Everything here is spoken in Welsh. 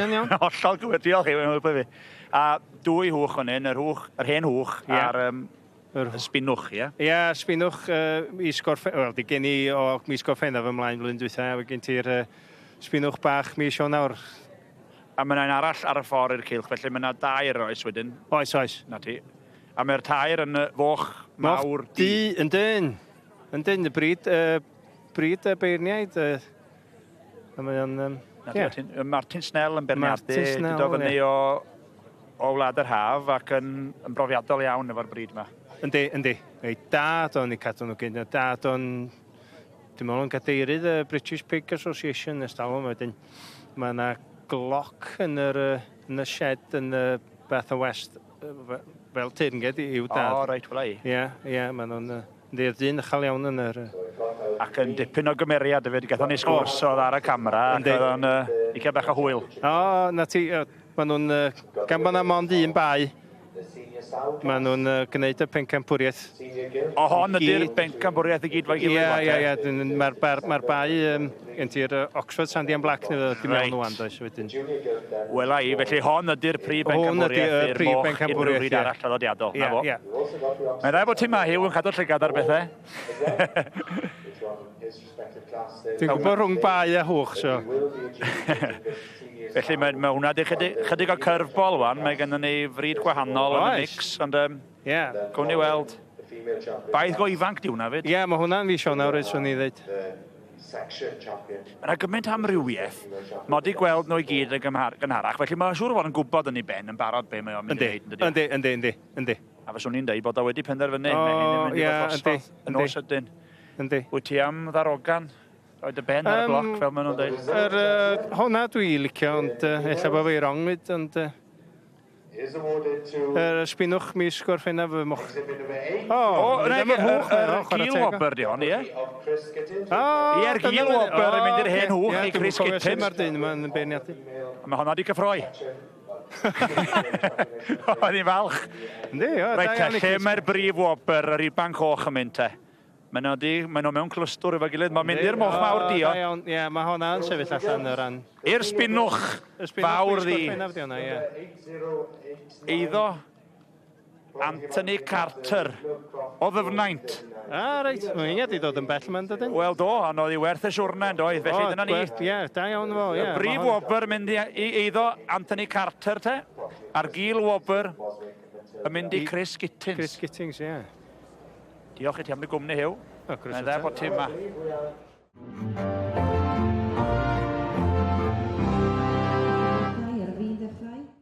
Yn iawn. Hollol gywir, diolch Huw, mae'n helpu fi. A dwy hwch fan hyn, yr hwch, yr hen hwch yeah. a'r um, yr sbinwch, ie? Ie, yeah, sbinwch uh, mis gorffen, wel, di gen i o mis gorffennaf ymlaen flwyddyn dwytha, a gen ti'r uh, sbinwch bach mis o'n awr. A mae yna arall ar y ffordd i'r cilch, felly mae yna dair oes wedyn. Oes, oes. Na ti. A mae'r tair yn y foch mawr di. Moch di, yn dyn. Yn dyn, y bryd, uh, bryd y beirniaid. Uh, A mae o'n... Um, yeah. Martin, Martin Snell yn berniadu, dydo fyny yeah. o, o Wlad yr Haf ac yn, yn brofiadol iawn efo'r bryd yma. Yndi, yndi. Ei dad o'n i cadw nhw gyn. Dad o'n... Dwi'n meddwl yn gadeirydd y British Pig Association nes dalwm wedyn. Mae yna gloc yn, yr, yn y shed yn y Bath o West fel teyrnged i i'w dad. O, reit, wla i. Ie, ie, maen nhw'n uh, ddydd dyn ychal iawn yn yr... Ac yn dipyn o gymeriad hefyd, gathon ni sgwrs oedd ar y camera, ac oedd o'n uh, licio bach o hwyl. O, na ti, uh, maen nhw'n, uh, gan bod na mond un bai, maen nhw'n uh, gwneud y pencampwriaeth O hon ydy'r bencampwriaeth i gyd fo'i gilydd? Ie, ie, ie. Dyn, mae'r bar, mae'r bai um, gen ti'r uh, Oxford Sandy and Black neu dim right. iawn does wedyn. Wel i, felly hon ydy'r prif bencampwriaeth i'r prif bencampwriaeth i'r arall traddodiadol. Ie, ie. Mae'n rhaid bod ti ma Hugh yn cadw'r llygad ar bethau. Dwi'n gwybod rhwng bai a hwch, so. Felly mae, mae hwnna wedi chydig, chydig o curveball wan, mae gennym ni fryd gwahanol yn y mix, ond um, Ie, gawn ni weld. Baedd go ifanc 'di hwnna 'fyd. Ie, ma' hwnna'n fis Ionawr 'fyd, 'swn i'n ddeud. Ma' 'na gymaint o amrywiaeth. Ma' o 'di gweld nhw i gyd yn gymhar- gynharach, felly ma' siŵr o fod yn gwybod yn ei ben yn barod be' mae o'n mynd i wneud, yndydi o? Yndi, yndi, yndi, yndi, yndi. A fyswn i'n deud bod o wedi penderfynu. O, ie, yndi. Mae hyn yn mynd i fod drosodd yn ôl sydyn. Yndi. Wyt ti am ddarogan? Rhoi dy ben ar y bloc, fel maen nhw'n deud? Yr yy honna dwi licio, ond yy ella bo fi wrong 'fyd, ond yy. Yr ysbinwch mis Gorffennaf fy moch. O, o na i gil wobr di hon, ie? Ie'r gil wobr yn mynd i'r hen hwch i Chris Gittins. Mae'r dyn yma'n beirniadu. Mae honna di cyffroi. Oedd hi'n falch. Yndi, o, da iawn i Chris. Reit te, lle mae'r brif wobr, yr ibanc coch yn mynd te? Mae nhw di, mae nhw mewn clwstwr efo'i gilydd. Mae'n mynd i'r moch mawr dio. Da iawn, ie, mae honna yn sefyll allan o ran... I'r sbinwch fawr ddi. Eiddo Anthony Carter o ddyfnaint. Ah, reit, mae'n inge di dod yn bell yma'n dydyn? Wel do, ond oedd hi werth y siwrna yn doedd, felly dyna ni. Ie, da iawn fo, ie. Brif wobr mynd i eiddo Anthony Carter te, a'r gil wobr yn mynd i Chris Gittings. Chris Gittings, ie. Diolch i ti am dy gwmni, Huw. Mae'n croeso dda bod ti yma. Ar fin dechrau?